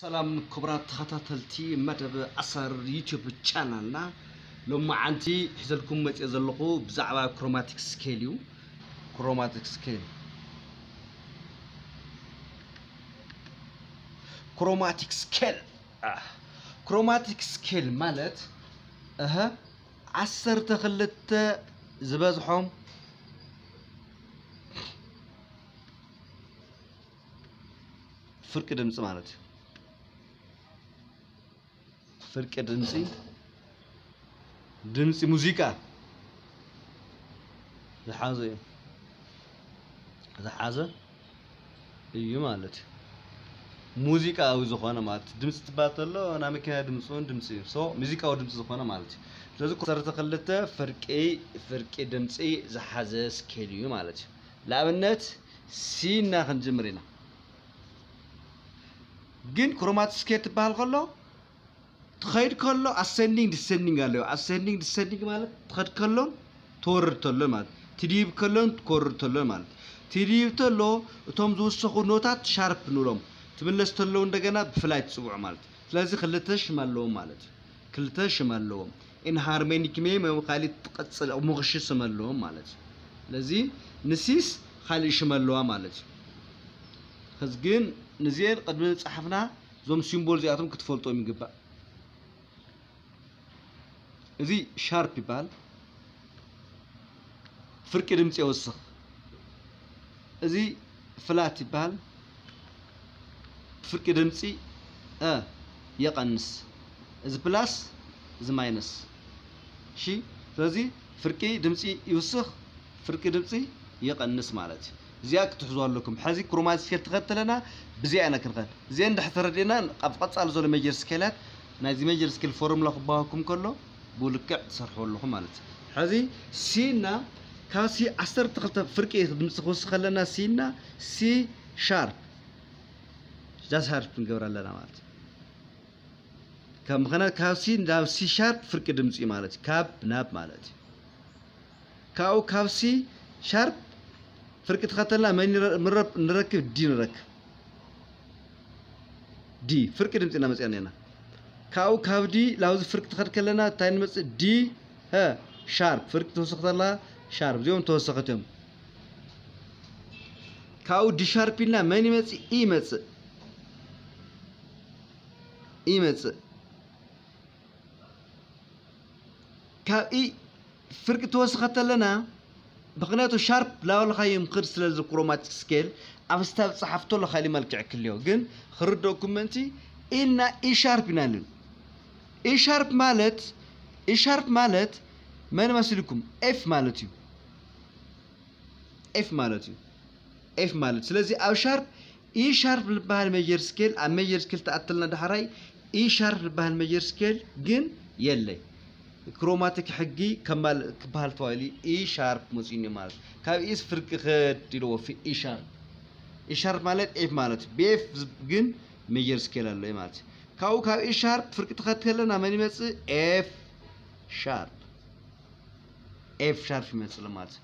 ሰላም ክቡራት ተኸታተልቲ መደብ ኣሰር ዩቲዩብ ቻናልና ሎማዓንቲ ሒዘልኩም መፅኤ ዘለኹ ብዛዕባ ክሮማቲክ ስኬል እዩ ክሮማቲክ ስኬል ክሮማቲክ ስኬል ክሮማቲክ ስኬል ማለት እህ ዓሰርተ ክልተ ዝበዝሖም ፍርቂ ድምፂ ማለት እዩ። ፍርቂ ድምፂ ድምፂ ሙዚቃ ዝሓዘ እዩ ዝሓዘ እዩ ማለት እዩ። ሙዚቃዊ ዝኾነ ማለት እዩ። ድምፂ ትባል ተሎ ናይ መኪና ድምፂ እውን ድምፂ እዩ። ሶ ሙዚቃዊ ድምፂ ዝኾነ ማለት እዩ። ስለዚ ኮሰርተ ክልተ ፍርቂ ፍርቂ ድምፂ ዝሓዘ ስኬል እዩ ማለት እዩ። ንኣብነት ሲ ኢልና ክንጅምር ኢና። ግን ክሮማቲክ ስኬል ትበሃል ከሎ ትኸይድ ከሎ ኣሰንዲንግ ዲሰንዲንግ ኣለዎ። ኣሰንዲንግ ዲሰንዲንግ ማለት ትኸድ ከሎን ትወርድ ተሎን ማለት ትድይብ ከሎን ትወርድ ተሎን ማለት ትድይብ ተሎ እቶም ዝውሰኹ ኖታት ሻርፕ ንብሎም ትምለስ ተለው እንደገና ብፍላይ ትፅውዑ ማለት ስለዚ ክልተ ሽም ኣለዎም ማለት እዩ። ክልተ ሽም ኣለዎም ኢንሃርሜኒክሜ መ ካሊእ ትቐፅል ኣብ ሞኽሺ ስም ኣለዎም ማለት እዩ ስለዚ ንሲስ ካሊእ ሽም ኣለዋ ማለት እዩ ከዚ ግን ንዚኤን ቅድሚ ፃሓፍና እዞም ሲምቦል እዚኣቶም ክትፈልጦም ይግባእ እዚ ሻርፕ ይበሃል ፍርቂ ድምፂ የወስኽ እዚ ፍላት ይበሃል ፍርቂ ድምፂ እ የቐንስ እዚ ፕላስ እዚ ማይነስ እሺ ስለዚ ፍርቂ ድምፂ ይውስኽ ፍርቂ ድምፂ ይቐንስ ማለት እዩ እዚኣ ክትሕዙ ኣለኩም ሕዚ ክሮማ ስኬል ተኸትለና ብዚኣ ኢና ክንኸድ እዚአን ድሕር ተረዲእና ኣብ ቀፃሊ ዘሎ ሜጀር ስኬላት ናይዚ ሜጀር ስኬል ፎርሙላ ክባሃኩም ከሎ ብልክዕ ትሰርሕዎ ኣለኹም ማለት እዩ። ሕዚ ሲ እና ካብ ሲ ዓሰርተ ክልተ ፍርቂ ድምፂ ክውስኽ ከለና ሲ እና ሲ ሻርፕ ጃዝ ሃርፕ ንገብር ኣለና ማለት እዩ። ካብ ምክንያት ካብ ሲ ናብ ሲ ሻርፕ ፍርቂ ድምፂ ማለት እዩ። ካብ ናብ ማለት እዩ። ካብኡ ካብ ሲ ሻርፕ ፍርቂ ተኸተልና መን ይረ- ምረብ ንረክብ ዲ ንረክብ ዲ ፍርቂ ድምፂ እናመፅኣና ኢና ካብኡ ካብ ዲ ላብዚ ፍርቂ ተኸድ ከለና እንታይ ንመፅእ ዲ ሀ ሻርፕ ፍርቂ ተወሰኽት ኣላ ሻርፕ እዚኦም ተወሰኸት እዮም ካብኡ ዲ ሻርፕ ኢልና መን ይመፅእ ኢ ይመፅእ ኢ ይመፅእ ካብ ኢ ፍርቂ ትወስኽ ከተለና ምክንያቱ ሻርፕ ላወልኻዮ ምክድ ስለዚ ክሮማቲክ ስኬል ኣብ ስታብ ጸሓፍ ተሎ ካሊ መልክዕ ክልዮ ግን ክርደኩም ምእንቲ ኢልና ኢሻርፕ ኢና ልን ኢሻርፕ ማለት ኢሻርፕ ማለት መን መስልኩም ኤፍ ማለት እዩ ኤፍ ማለት እዩ ኤፍ ማለት ስለዚ ኣብ ሻርፕ ኢ ሻርፕ ልበሃል ሜጀር ስኬል ኣብ ሜጀር ስኬል ተኣትልና ዳሕራይ ኢ ሻርፕ ልበሃል ሜጀር ስኬል ግን የለይ ክሮማቲክ ሕጊ ከማል ክበሃል ተባሂሉ ኢ ሻርፕ መፅዩኒ ማለት ካብ ኢስ ፍርቂ ክድ ኢለዎ ኢ ሻርፕ ኢ ሻርፕ ማለት ኤፍ ማለት እዩ ብኤፍ ግን ሜጀር ስኬል ኣሎ እዩ ማለት እዩ ካብኡ ካብ ኢ ሻርፕ ፍርቂ ትኸድ ከለና መን ይመፅእ ኤፍ ሻርፕ ኤፍ ሻርፕ ይመፅእ ማለት እዩ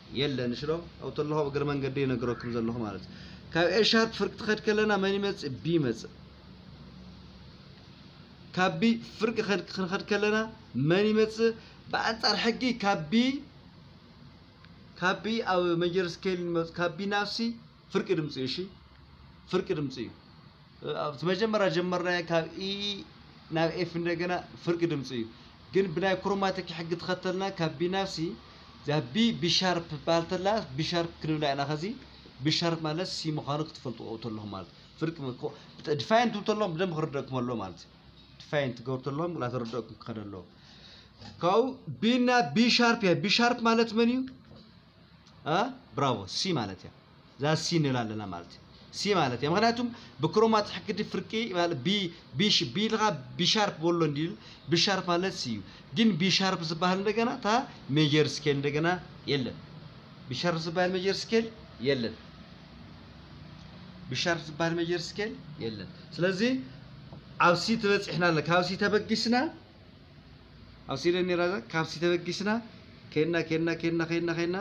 የለን እሺ ዶ ኣብኡ ተለኹ እግረ መንገደይ ይነግረኩም ዘለኹ ማለት እዩ ካብ ኤሻት ፍርቂ ትኸድ ከለና መን ይመፅእ ቢ ይመፅእ ካብ ቢ ፍርቂ ክንኸድ ከለና መን ይመፅእ ብኣንፃር ሕጊ ካብ ቢ ካብ ቢ ኣብ መጀር ስኬል ንመፅ ካብ ቢ ናብ ሲ ፍርቂ ድምፂ እዩ እሺ ፍርቂ ድምፂ እዩ ኣብቲ መጀመርያ ጀመርናዮ ካብ ኢ ናብ ኤፍ እንደገና ፍርቂ ድምፂ እዩ ግን ብናይ ክሮማቲክ ሕጊ ተኸተልና ካብ ቢ ናብ ሲ እዚኣ ቢ ቢሻርፕ ትበሃል ተላ ቢሻርፕ ክንብላ ኢና ከዚ ቢሻርፕ ማለት ሲ ምዃኑ ክትፈልጥዎ ተለኹም ማለት ፍርቂ ድፋይን ትብሉ ተለኹም ብደንብ ክርደእኩም ኣሎ ማለት ድፋይን ትገብሩ ተለኹም ላተረደእኩም ክኸደ ኣለዎ ካብኡ ቢና ቢሻርፕ እያ ቢሻርፕ ማለት መን እዩ ብራቮ ሲ ማለት እያ እዛ ሲ ንብል ኣለና ማለት እዩ ሲ ማለት እያ ምክንያቱም ብክሮማት ሕክዲ ፍርቂ ቢልካ ቢሻርፕ በሎ እንዲል ቢሻርፕ ማለት ሲ እዩ ግን ቢሻርፕ ዝበሃል እንደገና እታ ሜጀር ስኬል እንደገና የለን ቢሻርፕ ዝበሃል ሜጀር ስኬል የለን ቢሻርፕ ዝበሃል ሜጀር ስኬል የለን ስለዚ ኣብ ሲ ትበፂሕና ኣለና ካብ ሲ ተበጊስና ኣብ ሲደን ነይራ እዛ ካብሲ ተበጊስና ከድና ከድና ከድና ከድና ከድና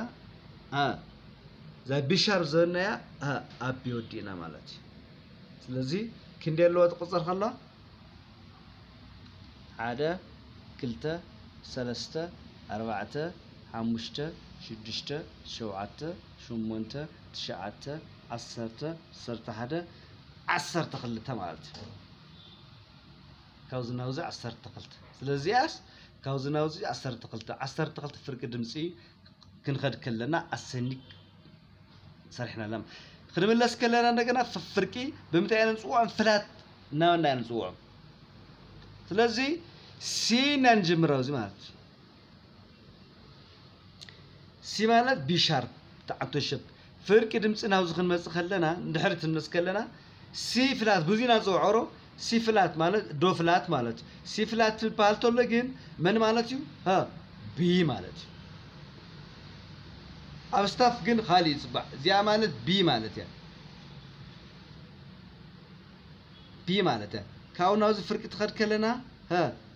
እዛ ቢሻር ዝበናያ ኣቢ ወዲእና ማለት እዩ ስለዚ ክንደይ ኣለዋ ትቁፀር ከላ ሓደ ክልተ ሰለስተ ኣርባዕተ ሓሙሽተ ሽዱሽተ ሸውዓተ ሸሞንተ ትሽዓተ ዓሰርተ ዓሰርተ ሓደ ዓሰርተ ክልተ ማለት እዩ ካብዚ ናብዚ ዓሰርተ ክልተ ስለ እዚኣስ ካብዚ ናብዚ ዓሰርተ ክልተ ዓሰርተ ክልተ ፍርቂ ድምፂ ክንኸድ ከለና ኣሰኒ ሰሪሕና ኣለና ክንምለስ ከለና እንደገና ፍርቂ ብምንታይ ኢና ንፅውዖም ፍላት እናበልና ኢና ንፅውዖም ስለዚ ሲና ንጅምር ኣብዚ ማለት እዩ ሲ ማለት ቢ ሻርፕ ትዓቶ ሸብ ፍርቂ ድምፂ ናብዚ ክንመፅእ ከለና ንድሕሪ ትንመስ ከለና ሲ ፍላት ብዙና ዝፅውዖሮ ሲ ፍላት ማለት ዶ ፍላት ማለት እዩ ሲ ፍላት ትበሃል ተሎ ግን መን ማለት እዩ ቢ ማለት እዩ ኣብ ስታፍ ግን ኻሊእ ይፅባዕ እዚኣ ማለት ቢ ማለት እያ ቢ ማለት እያ ካብኡ ናብዚ ፍርቂ ትኸድ ከለና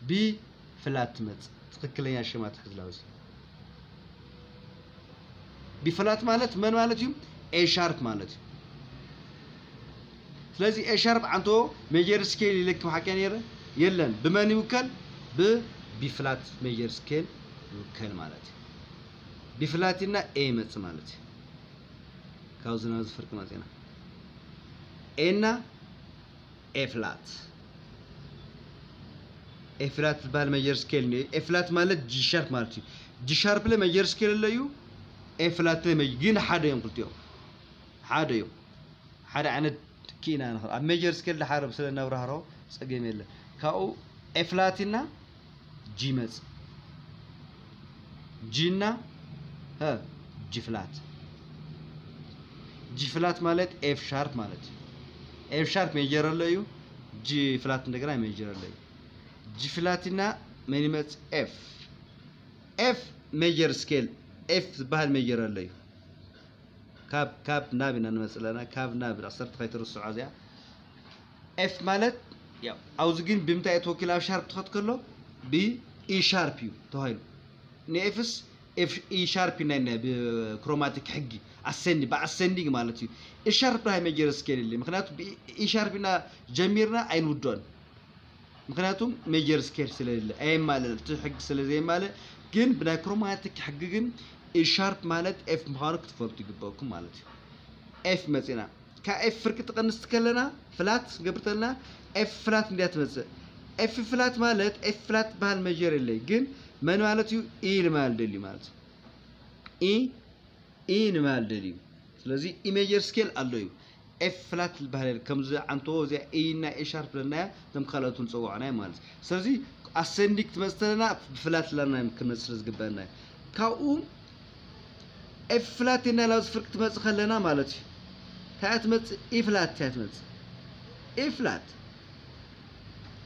ቢ ፍላት ትመጽእ ትክክለኛ ሽማ ትሕዝላዊ ሲ ቢፍላት ማለት መን ማለት እዩ ኤሻርፕ ማለት እዩ ስለዚ ኤሻርፕ ዓንቶ ሜጀር ስኬል ይለኪ ሓቂያ ነይረ የለን ብመን ይውከል ብቢፍላት ሜጀር ስኬል ይውከል ማለት እዩ ቢፍላት ኢልና ኤ ይመፅእ ማለት እዩ ካብዚ ናብዚ ፍርቂ መፂና ኤና ኤ ፍላት ኤፍላት ዝበሃል መጀር ስኬል እኒኦ እዩ። ኤፍላት ማለት ጂሻርፕ ማለት እዩ። ጂሻርፕለ መጀር ስኬል ኣሎ እዩ፣ ኤፍላትለ መጀር ግን ሓደ እዮም ክልቲኦም ሓደ እዮም። ሓደ ዓይነት ክኢና ንኽእል ኣብ መጀር ስኬል ድሓር ስለ ነብራህሮ ጸገም የለን። ካብኡ ኤፍላትና ጂ መጽ ጂ እና ሀ ጂ ፍላት ጂ ፍላት ማለት ኤፍ ሻርፕ ማለት እዩ። ኤፍ ሻርፕ ሜጀር ኣሎ እዩ ጂ ፍላት እንደገና ሜጀር ኣሎ እዩ። ጂ ፍላት እና መን ይመጽ ኤፍ ኤፍ ሜጀር ስኬል ኤፍ ዝበሃል ሜጀር ኣሎ እዩ። ካብ ካብ ናብ ኢና ንመጽእ ኣለና ካብ ናብ ዓሰርተ ከይትርስዖ እዚኣ ኤፍ ማለት ያው ኣብዚ ግን ብምንታይ እዩ ተወኪሉ ኣብ ሻርፕ ትኸት ከሎ ብ ኢ ሻርፕ እዩ ተባሂሉ ንኤፍስ ኤፍ ኢ ሻርፕ እዩ ናይና ብክሮማቲክ ሕጊ ኣሰንዲ ብኣሰንዲንግ ማለት እዩ ኢ ሻርፕ ሃይ ሜጀር ስኬል የለ ምክንያቱ ብ ኢ ሻርፕ ኢና ጀሚርና ኣይንውድኦን ምክንያቱም ሜጀር ስኬል ስለሌለ ኣየማልእ እቲ ሕጊ ስለ ዘየማልእ ግን ብናይ ክሮማቲክ ሕጊ ግን ኢ ሻርፕ ማለት ኤፍ ምዃኑ ክትፈልጡ ይግበኩም ማለት እዩ ኤፍ መፂና ካብ ኤፍ ፍርቂ ትቐንስ ከለና ፍላት ክንገብር ተለና ኤፍ ፍላት እንድያ ትመጽእ። ኤፍ ፍላት ማለት ኤፍ ፍላት ትበሃል መጀር የለይ ግን መን ማለት እዩ ኢ ንበሃል ደልዩ ማለት እዩ ኢ ኢ ንበሃል ደልዩ ስለዚ ኢ ሜጀር ስኬል ኣሎ እዩ ኤፍ ፍላት ዝበሃል የለ ከምዚ ዓንተዎ እዚኣ ኢ እና ኤ ሻርፕ ለናያ እቶም ካልኦት ንፀዋዕናዮ ማለት እዩ ስለዚ ኣሰንዲክ ትመፅእ ተለና ብፍላት ላና ክንመፅእ ስለ ዝግበአና እዩ ካብኡ ኤፍ ፍላት ኢልና ናብዚ ፍርቂ ትመጽእ ከለና ማለት እዩ እንታይ እያ ትመጽእ ኢ ፍላት እያ ትመጽእ ኢ ፍላት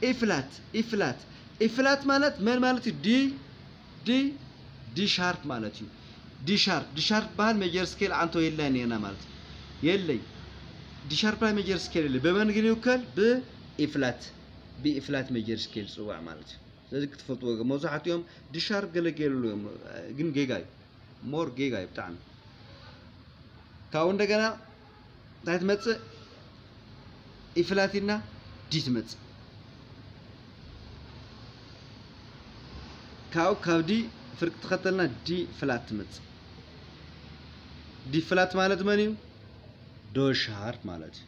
ኢ ፍላት ኢ ፍላት ኢ ፍላት ማለት መን ማለት እዩ ዲ ዲ ዲ ሻርፕ ማለት እዩ ዲ ሻርፕ ዲ ሻርፕ በሃል ሜጀር ስኬል ዓንቶ የለን ኔርና ማለት እዩ የለይ ዲ ሻርፕ ላይ ሜጀር ስኬል የለ በመን ግን ይውከል ብኢ ፍላት ብኢ ፍላት ሜጀር ስኬል ጽዋዕ ማለት እዩ ስለዚ ክትፈልጥዎ መብዛሕትኦም ድሻር ገለ ገይርሉ እዮም ግን ጌጋ እዩ ሞር ጌጋ እዩ ብጣዕሚ ካብኡ እንደገና እንታይ ትመፅእ ኢፍላቲና ዲ ትመፅእ ካብኡ ካብ ዲ ፍርቂ ተኸተልና ዲ ፍላት ትመፅእ ዲ ፍላት ማለት መን እዩ ዶሻር ማለት እዩ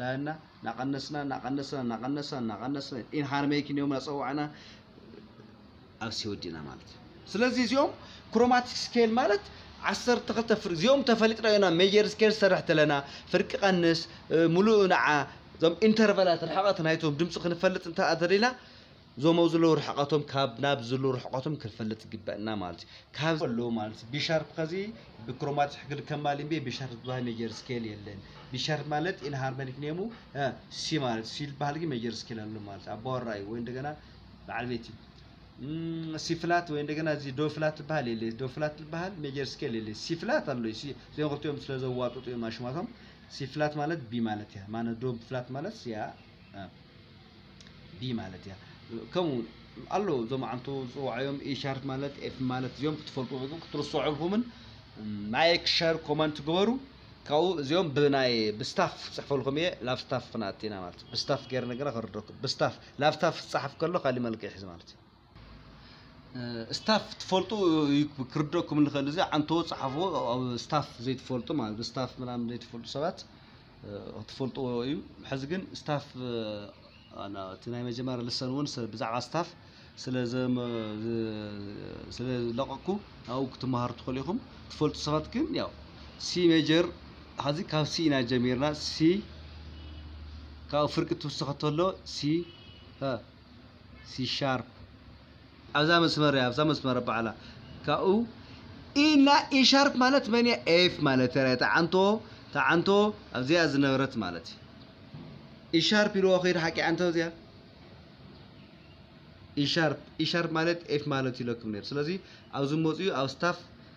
ላና ናቀነስና ናቀነስና ናቀነስና ናቀነስና ኢን ሃርመይኪ ኒዮም ናጸዋዕና ኣብ ሲ ወዲና ማለት እዩ ስለዚ እዚኦም ክሮማቲክ ስኬል ማለት ዓሰርተ ክልተ ፍርቂ እዚኦም ተፈሊጥና ኢና ሜጀር ስኬል ዝሰርሕ ተለና ፍርቂ ቀንስ ሙሉእ ንዓ እዞም ኢንተርቫላት ርሕቐት ናይቶም ድምፂ ክንፈልጥ እንተ ደሊና እዞም ኣብዚ ዘለዉ ርሕቐቶም ካብ ናብ ዝሉ ርሕቐቶም ክንፈልጥ ይግበእና ማለት እዩ ካብ ኣለዉ ማለት ቢሻርፕ ከዚ ብክሮማት ሕግል ከማል እምቤ ቢሻርፕ ዝበሃል ሜጀር ስኬል የለን ቢሻርፕ ማለት ኢን ሃርመኒክ ኔሙ ሲ ማለት ሲል በሃል ግን ሜጀር ስኬል ኣሎ ማለት ኣባወራ እዩ ወይ እንደገና በዓል ቤት እዩ ሲፍላት ወይ እንደገና እዚ ዶፍላት ዝበሃል የለ ዶፍላት ዝበሃል ሜጀር ስኬል የለ ሲፍላት ኣሎ እዩ እዚኦም ክልቲኦም ስለ ዘዋጡጡ እዮም ኣሽማቶም ሲፍላት ማለት ቢ ማለት እያ ማነ ዶብ ፍላት ማለት እያ ብ ማለት እያ ከምኡ ኣሎ እዞም ዓንቱ ዝፅዋዓዮም ኢሻርት ማለት ኤፍ ማለት እዚኦም ክትፈልጡ ግን ክትርሰዑልኩምን ላይክ ሸር ኮመንት ግበሩ ካብኡ እዚኦም ብናይ ብስታፍ ፅሕፈልኩም እየ ላብ ስታፍ ክንኣቲና ማለት ብስታፍ ገይርና ግና ክርደኩም ብስታፍ ላብ ስታፍ ዝፀሓፍ ከሎ ካሊእ መልክዕ ይሕዝ ማለት እዩ ስታፍ ትፈልጡ ክርደኩም ንኽእል እዚ ዓንተዎ ጸሓፍዎ ኣብ ስታፍ ዘይትፈልጡ ማለት ብስታፍ ምናምን ዘይትፈልጡ ሰባት ክትፈልጥዎ እዩ ሕዚ ግን ስታፍ እቲ ናይ መጀመርያ ልሰን እውን ብዛዕባ ስታፍ ስለለቐኩ ኣብኡ ክትመሃሩ ትኽእሉ ኢኹም ትፈልጡ ሰባት ግን ያው ሲ ሜጀር ሀዚ ካብ ሲ ኢና ጀሚርና ሲ ካብኡ ፍርቂ ትውስኸ ተሎ ሲ ሲሻርፕ ኣብዛ መስመር እያ ኣብዛ መስመር በዓላ ካብኡ ኢና ኢሻርፕ ማለት መን እያ ኤፍ ማለት እያ ተዓንቶ ተዓንቶ ኣብዚኣ ዝነበረት ማለት እዩ ኢሻርፕ ኢልዎ ከይድ ሓቂ ዓንቶ እዚኣ ኢሻርፕ ኢሻርፕ ማለት ኤፍ ማለት ኢለኩም ነይሩ ስለዚ ኣብዚ መፅኡ ኣብ ስታፍ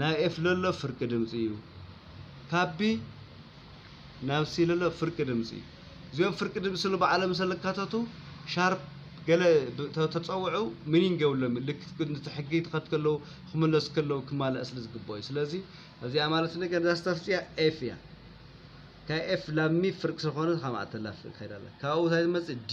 ናይ ኤፍለሎ ፍርቂ ድምፂ እዩ። ካብቢ ናብ ሲለሎ ፍርቂ ድምፂ እዩ። እዚኦም ፍርቂ ድምፂ ስሉ ባዕሎም ሰለካተቱ ሻርፕ ገለ ተፀውዑ ሚኒንግ የብሎም ልክ ንቲ ሕጊ ትኸት ከለው ክምለሱ ከለው ክማላእ ስለ ዝግበኦ እዩ። ስለዚ እዚኣ ማለት ነገር እዛ ስታፍፅያ ኤፍ እያ። ካብ ኤፍ ላብ ሚ ፍርቂ ስለኾነ ካብ ማእተላ ፍርቂ ከይዳላ ካብኡ እንታይ ዝመፅእ ዲ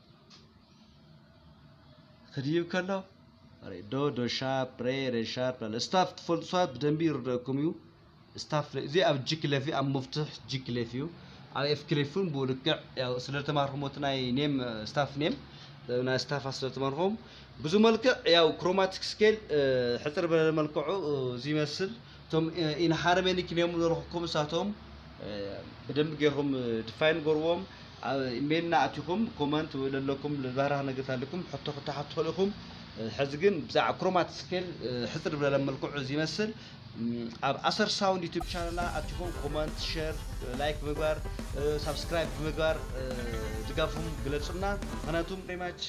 ክድይብ ከሎ ሬዶ ዶሻፕ ሬ ሬሻፕ ላለ ስታፍ ትፈልጡ ሰባት ብደንቢ ይርደኩም እዩ ስታፍ እዚ ኣብ ጂ ክለፍ እዩ ኣብ መፍትሕ ጂ ክለፍ እዩ ኣብ ኤፍ ክለፍ እውን ብኡ ልክዕ ያው ስለ ተማርኹም እቲ ናይ ኔም ስታፍ ኔም ናይ ስታፍ ስለ ተማርኹም ብዙ መልክዕ ያው ክሮማቲክ ስኬል ሕፅር በለ መልክዑ ዝመስል እቶም ኢንሓረመ ኒክኔም ዘረኹብኩም እሳቶም ብደንብ ጌርኩም ድፋይን ጎርዎም ኢሜልና ኣቲኹም ኮመንት ወይ ለለኩም ልባራህ ነገር ታልኩም ሕቶ ክታሓት ትኽእሉ ኢኹም ሕዚ ግን ብዛዕ ክሮማት ስኬል ሕፅር ብለለ መልክዑ ዝመስል ኣብ ኣሰር ሳውንድ ዩቱብ ቻነልና ኣቲኹም ኮመንት ሸር ላይክ ብምግባር ሳብስክራይብ ብምግባር ድጋፍኩም ግለፁና ምክንያቱም ሪማች